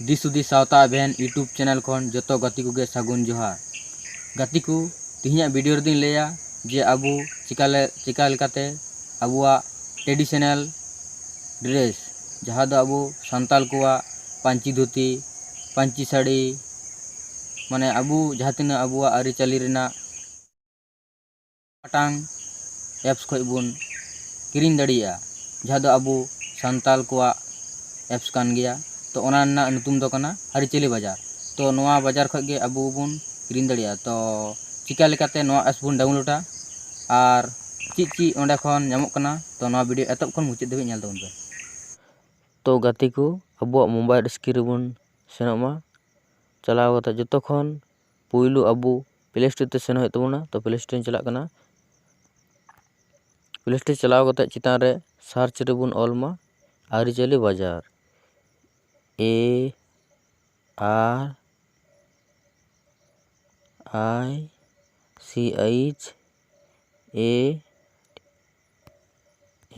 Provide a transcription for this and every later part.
ᱫᱤᱥ ᱦᱩᱫᱤᱥ ᱥᱟᱶᱛᱟ ᱟᱵᱷᱮᱱ ᱤᱭᱩᱴᱩᱵᱽ ᱪᱮᱱᱮᱞ ᱠᱷᱚᱱ ᱡᱚᱛᱚ ᱜᱟᱛᱮ ᱠᱚᱜᱮ ᱥᱟᱹᱜᱩᱱ ᱡᱚᱦᱟᱨ ᱜᱟᱛᱮ ᱠᱚ ᱛᱮᱦᱮᱧᱟᱜ ᱵᱷᱤᱰᱤᱭᱳ ᱨᱮᱫᱚᱧ ᱞᱟᱹᱭᱟ ᱡᱮ ᱟᱵᱚ ᱪᱤᱠᱟᱞᱮ ᱪᱤᱠᱟ ᱞᱮᱠᱟᱛᱮ ᱟᱵᱚᱣᱟᱜ ᱴᱨᱮᱰᱤᱥᱚᱱᱟᱞ ᱰᱨᱮᱥ ᱡᱟᱦᱟᱸ ᱫᱚ ᱟᱵᱚ ᱥᱟᱱᱛᱟᱞ ᱠᱚᱣᱟᱜ ᱯᱟᱹᱧᱪᱤ ᱫᱷᱩᱛᱤ ᱯᱟᱹᱧᱪᱤ ᱥᱟᱹᱲᱤ ᱢᱟᱱᱮ ᱟᱵᱚ ᱡᱟᱦᱟᱸ ᱛᱤᱱᱟᱹᱜ ᱟᱵᱚᱣᱟᱜ ᱟᱹᱨᱤᱪᱟᱹᱞᱤ ᱨᱮᱱᱟᱜ ᱢᱤᱫᱴᱟᱝ ᱮᱯᱥ ᱠᱷᱚᱱ ᱵᱚᱱ ᱠᱤᱨᱤᱧ ᱫᱟᱲᱮᱭᱟᱜᱼᱟ ᱡᱟᱦᱟᱸ ᱫᱚ ᱟᱵᱚ ᱥᱟᱱᱛᱟᱲ ᱠᱚᱣᱟᱜ ᱮᱯᱥ ᱠᱟᱱ ᱜᱮᱭᱟ ᱛᱚ ᱚᱱᱟ ᱨᱮᱱᱟᱜ ᱧᱩᱛᱩᱢ ᱫᱚ ᱠᱟᱱᱟ ᱟᱹᱨᱤᱪᱟᱹᱞᱤ ᱵᱟᱡᱟᱨ ᱛᱚ ᱱᱚᱣᱟ ᱵᱟᱡᱟᱨ ᱠᱷᱚᱱ ᱜᱮ ᱟᱵᱚ ᱵᱚᱱ ᱠᱤᱨᱤᱧ ᱫᱟᱲᱮᱭᱟᱜᱼᱟ ᱛᱚ ᱪᱤᱠᱟᱹ ᱞᱮᱠᱟᱛᱮ ᱱᱚᱣᱟ ᱮᱯᱥ ᱵᱚᱱ ᱰᱟᱣᱩᱱᱞᱳᱰᱟ ᱟᱨ ᱪᱮᱫ ᱪᱮᱫ ᱚᱸᱰᱮ ᱠᱷᱚᱱ ᱧᱟᱢᱚᱜ ᱠᱟᱱᱟ ᱛᱚ ᱱᱚᱣᱟ ᱵᱷᱤᱰᱤᱭᱳ ᱮᱛᱚᱦᱚᱵ ᱠᱷᱚᱱ ᱢᱩᱪᱟᱹᱫ ᱫᱷᱟᱹᱵᱤᱡ ᱧᱮᱞ ᱛᱟᱵᱚᱱ ᱯᱮ ᱛᱚ ᱜᱟᱛᱮ ᱠᱚ ᱟᱵᱚᱣᱟᱜ ᱢᱳᱵᱟᱭᱤᱞ ᱥᱠᱨᱤᱱ ᱨᱮᱵᱚᱱ ᱥᱮᱱᱚᱜ ᱢᱟ ᱪᱟᱞᱟᱣ ᱠᱟᱛᱮ ᱡᱚᱛᱚ ᱠᱷᱚᱱ ᱯᱩᱭᱞᱩ ᱟᱵᱚ ᱯᱞᱮ ᱥᱴᱳᱨ ᱛᱮ ᱥᱮᱱᱚᱜ ᱦᱩᱭᱩᱜ ᱛᱟᱵᱚᱱᱟ ᱛᱚ ᱯᱞᱮ ᱥᱴᱳᱨᱤᱧ ᱪᱟᱞᱟᱜ ᱠᱟᱱᱟ ᱯᱞᱮ ᱥᱴᱳᱨ ᱪᱟᱞᱟᱣ ᱠᱟᱛᱮ ᱪᱮᱛᱟᱱ ᱨᱮ ᱥᱟᱨᱪ ᱨᱮᱵᱚᱱ ᱚᱞ ᱢᱟ ᱟᱹᱨᱤᱪᱟᱹᱞᱤ ᱵᱟᱡᱟᱨ A R I C H A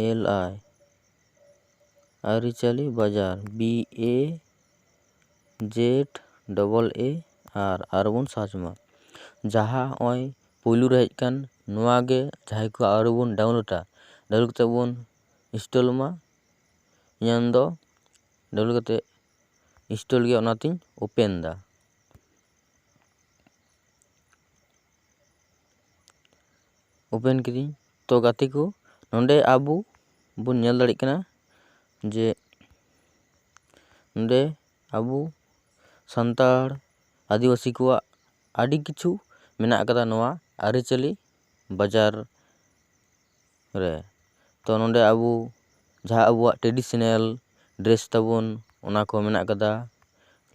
L I Arichali ᱵᱟᱡᱟᱨ B A Z double A R ᱟᱨ ᱵᱚᱱ ᱥᱟᱨᱪ ᱢᱟ ᱡᱟᱦᱟᱸ ᱱᱚᱜᱼᱚᱭ ᱯᱳᱭᱞᱳ ᱨᱮ ᱦᱮᱡ ᱟᱠᱟᱱ ᱱᱚᱣᱟ ᱜᱮ ᱡᱟᱦᱟᱸᱭ ᱠᱚ ᱟᱨᱚ ᱵᱚᱱ ᱰᱟᱣᱩᱱᱞᱳᱰᱟ ᱰᱟᱣᱩᱱᱞᱳᱰ ᱠᱟᱛᱮᱫ ᱵᱚᱱ ᱤᱱᱥᱴᱚᱞ ᱢᱟ ᱤᱧᱟᱹᱝ ᱫᱚ ᱰᱟᱣᱩᱱᱞᱳᱰ ᱠᱟᱛᱮᱫ ᱤᱱᱥᱴᱚᱞ ᱜᱮ ᱚᱱᱟᱛᱤᱧ ᱳᱯᱮᱱ ᱮᱫᱟ ᱳᱯᱮᱱ ᱠᱤᱫᱟᱹᱧ ᱛᱚ ᱜᱟᱛᱮ ᱠᱚ ᱱᱚᱰᱮ ᱟᱵᱚ ᱵᱚᱱ ᱧᱮᱞ ᱫᱟᱲᱮᱭᱟᱜ ᱠᱟᱱᱟ ᱡᱮ ᱱᱚᱰᱮ ᱟᱵᱚ ᱥᱟᱱᱛᱟᱲ ᱟᱹᱫᱤᱵᱟᱹᱥᱤ ᱠᱚᱣᱟᱜ ᱟᱹᱰᱤ ᱠᱤᱪᱷᱩ ᱢᱮᱱᱟᱜ ᱠᱟᱫᱟ ᱱᱚᱣᱟ ᱟᱹᱨᱤᱪᱟᱹᱞᱤ ᱵᱟᱡᱟᱨ ᱨᱮ ᱛᱚ ᱱᱚᱰᱮ ᱟᱵᱚ ᱡᱟᱦᱟᱸ ᱟᱵᱚᱣᱟᱜ ᱴᱨᱮᱰᱤᱥᱚᱱᱟᱞ ᱰᱨᱮᱥ ᱛᱟᱵᱚᱱ ᱚᱱᱟ ᱠᱚ ᱢᱮᱱᱟᱜ ᱠᱟᱫᱟ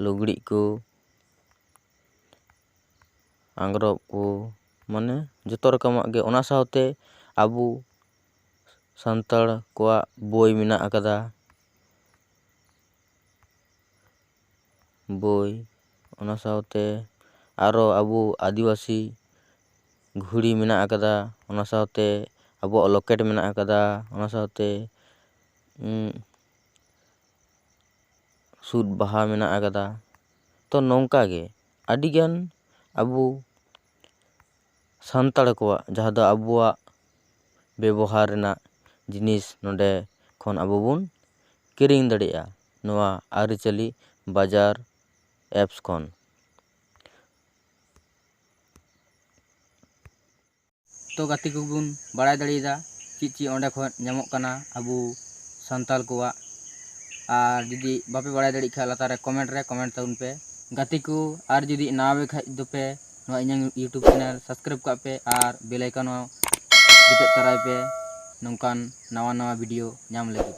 ᱞᱩᱜᱽᱲᱤᱡ ᱠᱚ ᱟᱝᱨᱚᱵ ᱠᱚ ᱢᱟᱱᱮ ᱡᱚᱛᱚ ᱨᱚᱠᱚᱢᱟᱜ ᱜᱮ ᱚᱱᱟ ᱥᱟᱶᱛᱮ ᱟᱵᱚ ᱥᱟᱱᱛᱟᱲ ᱠᱚᱣᱟᱜ ᱵᱳᱭ ᱢᱮᱱᱟᱜ ᱟᱠᱟᱫᱟ ᱵᱳᱭ ᱚᱱᱟ ᱥᱟᱶᱛᱮ ᱟᱨᱚ ᱟᱵᱚ ᱟᱹᱫᱤᱵᱟᱹᱥᱤ ᱜᱷᱩᱲᱤ ᱢᱮᱱᱟᱜ ᱟᱠᱟᱫᱟ ᱚᱱᱟ ᱥᱟᱶᱛᱮ ᱟᱵᱚᱣᱟᱜ ᱞᱚᱠᱮᱴ ᱢᱮᱱᱟᱜ ᱟᱠᱟᱫᱟ ᱚᱱᱟ ᱥᱟᱶᱛᱮ ᱥᱩᱫ ᱵᱟᱦᱟ ᱢᱮᱱᱟᱜ ᱟᱠᱟᱫᱟ ᱛᱚ ᱱᱚᱝᱠᱟ ᱜᱮ ᱟᱹᱰᱤᱜᱟᱱ ᱟᱵᱚ ᱥᱟᱱᱛᱟᱲ ᱠᱚᱣᱟᱜ ᱡᱟᱦᱟᱸ ᱫᱚ ᱟᱵᱚᱣᱟᱜ ᱵᱮᱵᱚᱦᱟᱨ ᱨᱮᱱᱟᱜ ᱡᱤᱱᱤᱥ ᱱᱚᱰᱮ ᱠᱷᱚᱱ ᱟᱵᱚ ᱵᱚᱱ ᱠᱤᱨᱤᱧ ᱫᱟᱲᱮᱭᱟᱜᱼᱟ ᱱᱚᱣᱟ ᱟᱹᱨᱤᱪᱟᱹᱞᱤ ᱵᱟᱡᱟᱨ ᱮᱯᱥ ᱠᱷᱚᱱ ᱡᱚᱛᱚ ᱜᱟᱛᱮ ᱠᱚᱜᱮ ᱵᱚᱱ ᱵᱟᱲᱟᱭ ᱫᱟᱲᱮᱭᱟᱫᱟ ᱪᱮᱫ ᱪᱮᱫ ᱚᱸᱰᱮ ᱠᱷᱚᱱ ᱧᱟᱢᱚᱜ ᱠᱟᱱᱟ ᱟᱵᱚ ᱥᱟᱱᱛᱟᱲ ᱠᱚᱣᱟᱜ ᱟᱨ ᱡᱩᱫᱤ ᱵᱟᱯᱮ ᱵᱟᱲᱟᱭ ᱫᱟᱲᱮᱭᱟᱜ ᱠᱷᱟᱱ ᱞᱟᱛᱟᱨ ᱨᱮ ᱠᱚᱢᱮᱱᱴ ᱨᱮ ᱠᱚᱢᱮᱱᱴ ᱛᱟᱵᱚᱱ ᱯᱮ ᱜᱟᱛᱮ ᱠᱚ ᱟᱨ ᱡᱩᱫᱤ ᱱᱟᱣᱟ ᱜᱮ ᱠᱷᱟᱱ ᱫᱚᱯᱮ ᱱᱚᱣᱟ ᱤᱧᱟᱹᱝ ᱤᱭᱩᱴᱩᱵᱽ ᱪᱮᱱᱮᱞ ᱥᱟᱵᱥᱠᱨᱟᱭᱤᱵᱽ ᱠᱟᱜ ᱯᱮ ᱟᱨ ᱵᱮᱞ ᱟᱭᱠᱚᱱ ᱦᱚᱸ ᱡᱚᱴᱮᱫ ᱛᱚᱨᱟᱭ ᱯᱮ ᱱᱚᱝᱠᱟᱱ ᱱᱟᱣᱟ ᱱᱟᱣᱟ ᱵᱷᱤᱰᱤᱭᱳ ᱧᱟᱢ ᱞᱟᱹᱜᱤᱫ